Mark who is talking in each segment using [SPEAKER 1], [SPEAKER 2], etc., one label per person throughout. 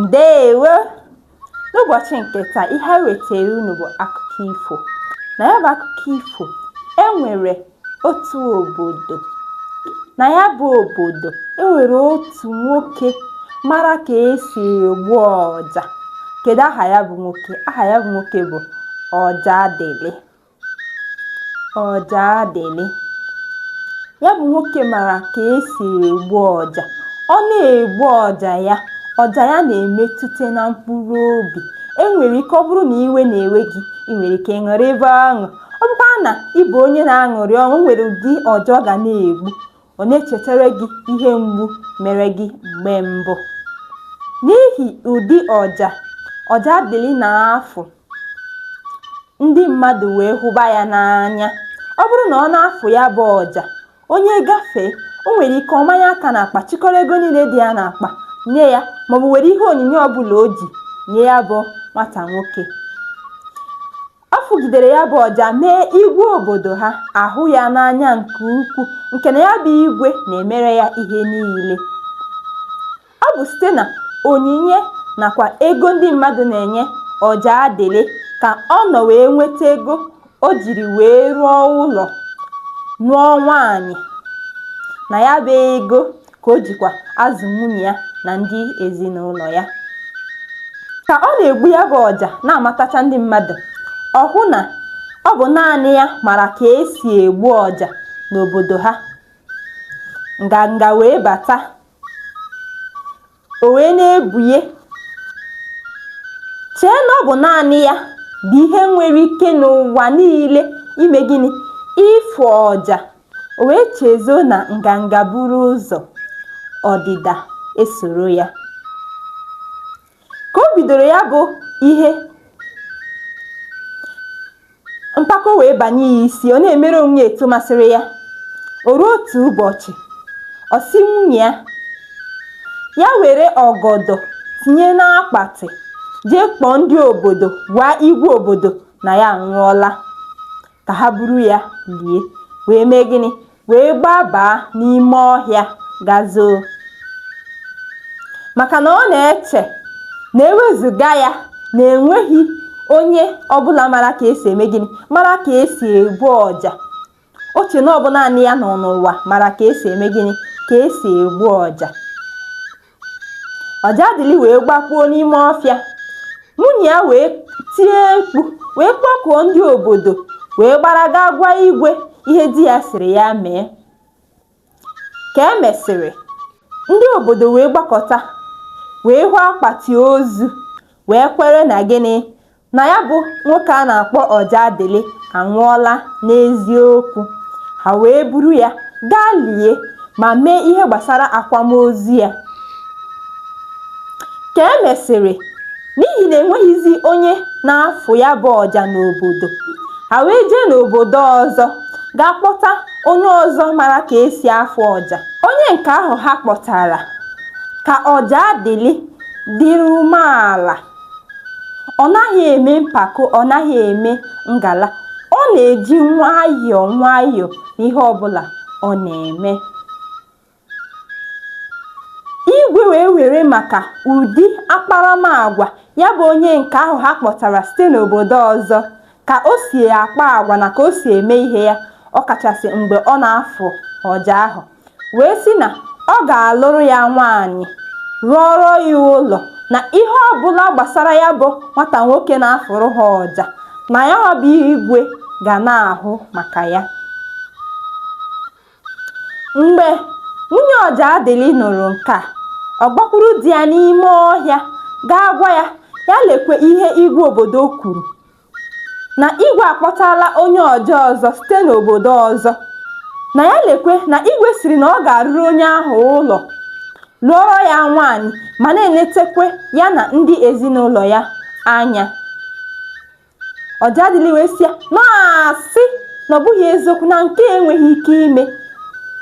[SPEAKER 1] ndeewo n'ụbọchị nke taa ihe anyị wetara unu bụ akụkọ ifo na ya bụ akụkọ ifo enwere otu obodo na ya bụ obodo enwere otu nwoke mara ka esi egbu ọja kedu aha ya bụ nwoke aha ya bụ nwoke bụ ọjadịlị ọjadịlị ya bụ nwoke mara ka esi egbu ọja ọ na-egbu ọja ya ọja ya na-emetụta na mkpụrụ obi enwere ike ọ bụrụ na iwe na-ewe gị ị nwere ike ṅụrịba ọṅụ ọ bụkwa na ị bụ onye na-aṅụrị ọṅụ nwere ụdị ọja ọ ga na-egbu Ọ na-echetara gị ihe mgbu mere gị mgbe mbụ. N'ihi ụdị ọja Ọjadịlị na-afụ, ndị mmadụ wee hụba ya n'anya. Ọ bụrụ na ọ na-afụ ya bụ ọja, onye gafee, o nwere ike ọ manye aka n'akpa chịkọrọ ego niile dị ya n'akpa nye ya maọbụ were ihe onyinye ọbụla o ji nye ya bụ nwata nwoke. Ọ fụgidere ya bụ ọja mee igwe obodo ha ahụ ya n'anya nke ukwu nke na ya bụ igwe na-emere ya ihe niile. Ọ bụ site na onyinye nakwa ego ndị mmadụ na-enye Ọjadịlị ka ọ nọ wee nweta ego o jiri wee rụọ ụlọ, nụọ nwaanyị na ya bụ ego ka o jikwa azụ nwunye ya na ndị ezinụlọ ya ka ọ na-egbu ya bụ ọja na-amatacha ndị mmadụ ọ hụ na ọ bụ naanị ya mara ka esi egbu ọja n'obodo ha nganga wee bata o wee na-ebunye chee na ọ bụ naanị ya bụ ihe nwere ike n'ụwa niile ime gịnị ịfụ ọja O wee chezo na nganga buru ụzọ, ọdịda esoro ya. Ka o bidoro ya bụ ihe, mpako wee banye ya isi, ọ na-emere onwe ya etu masịrị ya. O ruo otu ụbọchị, ọ sị nwunye ya, ya were ọgọdọ tinye n'akpatị jee kpọọ ndị obodo gwa igwe obodo na ya anwụọla. ka ha buru ya lie wee mee gịnị wee gbabaa n'ime ọhịa ga zoo maka na ọ na-eche na ewezuga ya na enweghị onye ọbụla mara ka esi eme gịnị mara ka esi egbu ọja o che na ọ bụ naanị ya nọ n'ụwa mara ka esi eme gịnị ka esi egbu ọja Ọjadịlị wee gbakpuo n'ime ọfịa. Nwunye ya wee tie mkpu wee kpọkuo ndị obodo wee gbara gaa gwa igwe ihe di ya sịrị ya mee. Ka e mesịrị, ndị obodo wee gbakọta wee hụ akpati ozu wee kwere na gịnị? na ya bụ nwoke a na-akpọ ọjadịlị anwụọla n'eziokwu ha wee buru ya gaa lie ma mee ihe gbasara akwamozu ya ka e mesịrị n'ihi na enweghịzi onye na-afụ ya bụ ọja n'obodo ha wee jee n'obodo ọzọ gaa kpọta onye ọzọ mara ka esi afụ ọja onye nke ahụ ha kpọtara ka ọjadịlị dịrị umeala ọ naghị eme mpako ọ naghị eme ngala ọ na-eji nwayọọ nwayọọ n'ihe ọbụla ọ na-eme igwe wee were maka ụdị akparamagwa ya bụ onye nke ahụ ha kpọtara site n'obodo ọzọ ka o si akpa agwa na ka o si eme ihe ya ọkachasị mgbe ọ na-afụ ọja ahụ wee sị na ọ ga-alụrụ ya nwaanyị rụọrọ ya ụlọ na ihe ọbụla gbasara ya bụ nwata nwoke na-afụrụ ha ọja na ya bụ igwe ga na-ahụ maka ya mgbe nwunye ọjadịlị nụrụ nke a ọ gbakwuru di ya n'ime ọhịa gaa gwa ya ya lekwe ihe igwe obodo kwuru na igwe akpọtala onye ọja ọzọ site n'obodo ọzọ na ya lekwe na igwe sịrị na ọ ga-arụrụ onye ahụ ụlọ lụọrọ ya nwaanyị ma na-enetekwe ya na ndị ezinụlọ ya anya ọjadịlị wee sị ya na ọ asị na ọ bụghị eziokwu na nke enweghị ike ime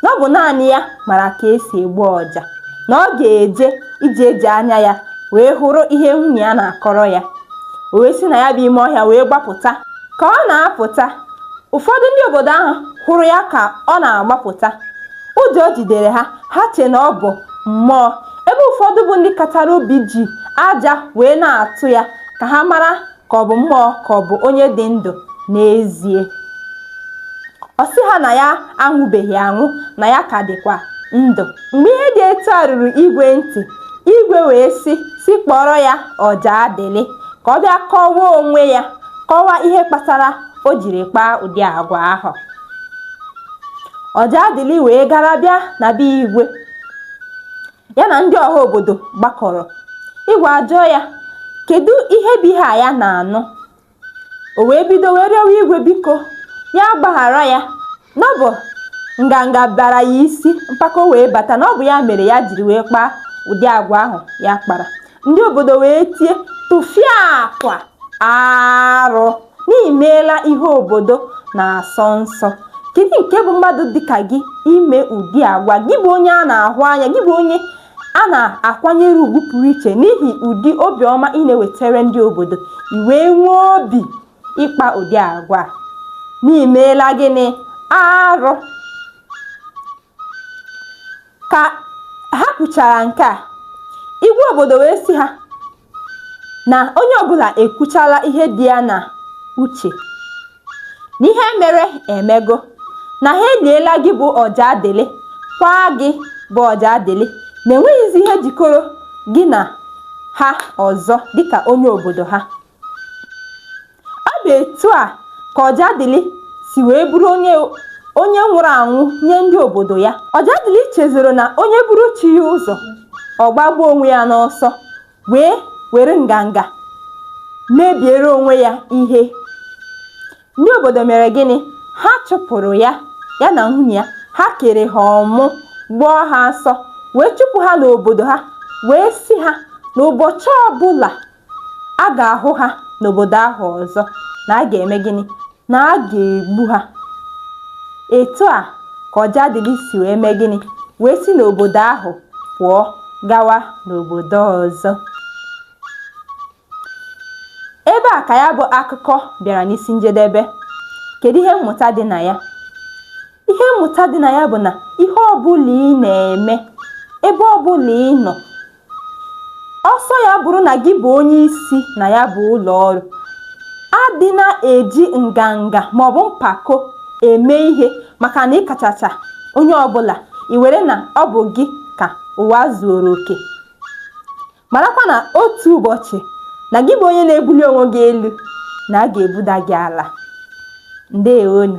[SPEAKER 1] na ọ bụ naanị ya mara ka esi egbu ọja na ọ ga-eje iji eji anya ya wee hụrụ ihe nwunye ya na-akọrọ ya o wee si na ya bụ ime ọhịa wee gbapụta ka ọ na-apụta ụfọdụ ndị obodo ahụ hụrụ ya ka ọ na-agbapụta ụjọ jidere ha ha che na ọ bụ mmụọ ebe ụfọdụ bụ ndị katara obi ji aja wee na-atụ ya ka ha mara ka ọ bụ mmụọ ka ọ bụ onye dị ndụ n'ezie ọ sị ha na ya anwụbeghị anwụ na ya ka dịkwa ndụ mgbe ihe dị etu a ruru igwe ntị igwe wee sị sị kpọọrọ ya ọjadịlị ka ọ bịa kọwaa onwe ya kọwaa ihe kpatara o jiri kpaa ụdị agwa ahụ ọjadịlị wee gara bịa na be igwe ya na ndị ọha obodo gbakọrọ igwe ajụọ ya kedu ihe bụ ihe a ya na-anụ o wee bido wee rịọwa igwe biko ya gbaghara ya na ọ bụ nganga bara ya isi mpako wee bata na ọ bụ ya mere ya jiri wee kpaa ụdị agwa ahụ ya kpara ndị obodo wee tie tụfịakwa arụ na i meela ihe obodo na-asọ nsọ kedu nke bụ mmadụ dịka gị ime ụdị agwa gị bụ onye a na-ahụ anya gị bụ onye a na-akwanyere ugwu pụrụ iche n'ihi ụdị obiọma ị na-ewetara ndị obodo i wee nwee obi ịkpa ụdị agwa na i meela gịnị arụ ka ha kwuchara nke a igwe obodo wee sị ha na onye ọbụla ekwuchala ihe dị ya na uche na ihe mere emego na ha eliela gị bụ ọjadịlị kwaa gị bụ ọjadịlị na enweghịzi ihe jikọrọ gị na ha ọzọ dịka onye obodo ha ọ bụ etu a ka ọjadịlị si wee bụrụ onye nwụrụ anwụ nye ndị obodo ya ọjadịlị chezọrọ na onye buru chi ya ụzọ ọ gbagbuo onwe ya n'ọsọ wee were nganga mebiere onwe ya ihe ndị obodo mere gịnị ha chụpụrụ ya ya na nwunye ya ha kere ha ọmụ gbọọ ha asọ wee chụpụ ha n'obodo ha wee sị ha na ụbọchị ọbụla a ga-ahụ ha n'obodo ahụ ọzọ na a ga-eme gịnị na a ga-egbu ha etu a ka ọjadịlị si wee mee gịnị wee si n'obodo ahụ pụọ gawa n'obodo ọzọ ebe a ka ya bụ akụkọ bịara n'isi njedebe kedu ihe mmụta dị na ya ihe mmụta dị na ya bụ na ihe ọbụla ị na-eme ebe ọbụla ị nọ ọ sọ ya bụrụ na gị bụ onye isi na ya bụ ụlọ ọrụ adị na-eji nganga maọbụ mpako eme ihe maka na ị kachacha onye ọbụla i were na ọ bụ gị ka ụwa zuoro oke marakwa na otu ụbọchị na gị bụ onye na-ebuli onwe gị elu na a ga-ebuda gị ala ndewonụ